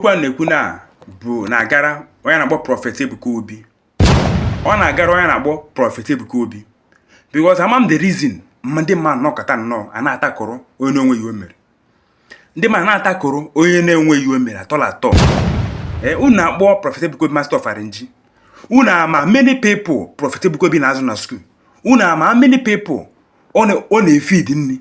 okwu a na-ekwu na bụ na-agara onye na-akpọ Prophet Ebuka Obi ọ na-agara onye na-akpọ Prophet Ebuka Obi because ama m the reason ma ndị mmadụ nọkọta nnọọ a na-atakọrọ onye na-enweghị o mere ndị mmadụ na-atakọrọ onye na-enweghị o mere at all at all ee eh, unu akpọ Prophet Ebuka Obi master of arrange unu ama many people Prophet Ebuka Obi na-azụ na school unu ama many people ọ na-efeed nri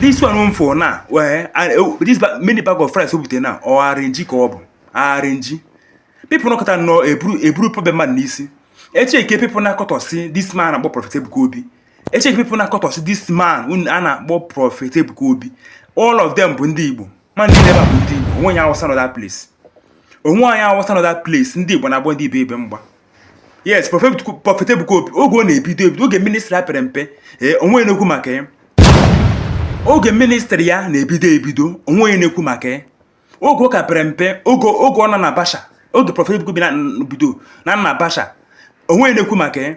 this one for now well oh, this many bag of rice o bute now ọ arrange ka ọ bụ arrange people nọkọta nnọọ eburu eburu problem man n'isi e checkie people na-akọtọsi this man akpọ prophet Ebuka Obi e checkie people na-akọtọsi this man unu a na-akpọ prophet Ebuka Obi all of them bụ ndị Igbo ma ndị n'ebe a bụ ndị Igbo o nwe onye awụsa nọ that place o nwe onye awụsa nọ that place ndị Igbo na-agba ndị Igbo ibe mgba yes Prophet ebuka obi oge ọ na-ebido ebido oge ministry ya pere mpe ee eh, o nwe na-ekwu maka ya oge ministry ya na-ebido ebido o nwe na-ekwu maka ya oge ọ ka pere mpe oge oge ọ nọ na basha oge Prophet ebuka obi na-ebido na na basha o nwe na-ekwu maka ya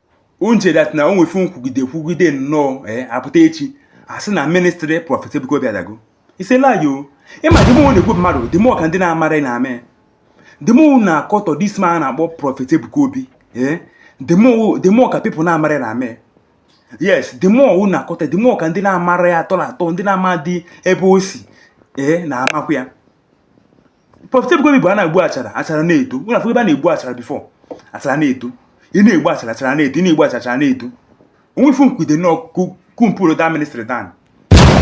unu chee that na o nwe ife unu kwugide kwugide nnọọ ee apụta echi a sị na ministry Prophet Ebuka Obi adago is a lie o ị ma ndị mụ na-ekwu mmadụ dị mụ ka ndị na-amara ị na-ama ya dị mụ na-akọtọ this man a na-akpọ Prophet Ebuka Obi ee dị mụ dị mụ ka people na-amara ị na-ama ya yes dị mụ ọwụ na-akọtọ dị mụ ka ndị na-amara ya at all at all ndị na-ama dị ebe o si ee na-amakwa ya Prophet Ebuka Obi bụ a na-egbu achara achara na-eto unu afụ ebe a na-egbu achara before achara na-eto ị na-egbu achara achara na-eto ị na-egbu achara achara na-eto o nwe ife unu kwude nnọọ ka unu pulluo that ministry down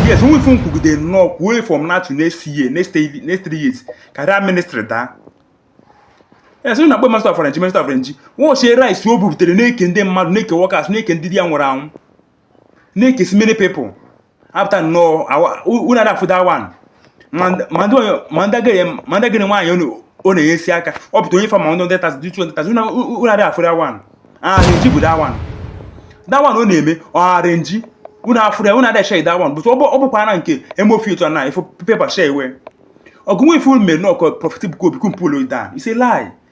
yes o nwe ife unu kwugide nnọọ kwuo from now to next year next three years ka that ministry daa yes onye na-akpọ master of arrange master of arrange watchie rice o bubutere na-eke ndị mmadụ na-eke workers na-eke ndị di ya nwụrụ anwụ na-ekesi many people after now unu ada afụ that one ma ndị agadi nwaanyị ọ na-enyesi aka ọ pụta o nye fa ma ndị hundred thousand ndị two hundred thousand unu ada afụ that one arrange bụ that one that one ọ na-eme ọ arrange unu afụ ya unu ada share that one but ọ bụkwa na nke emofi otu na ifo pepa share iwe ọ ga-enwe ife unu mere nnọọ ka Prophet Ebuka Obi ka unu pulluo down is a lie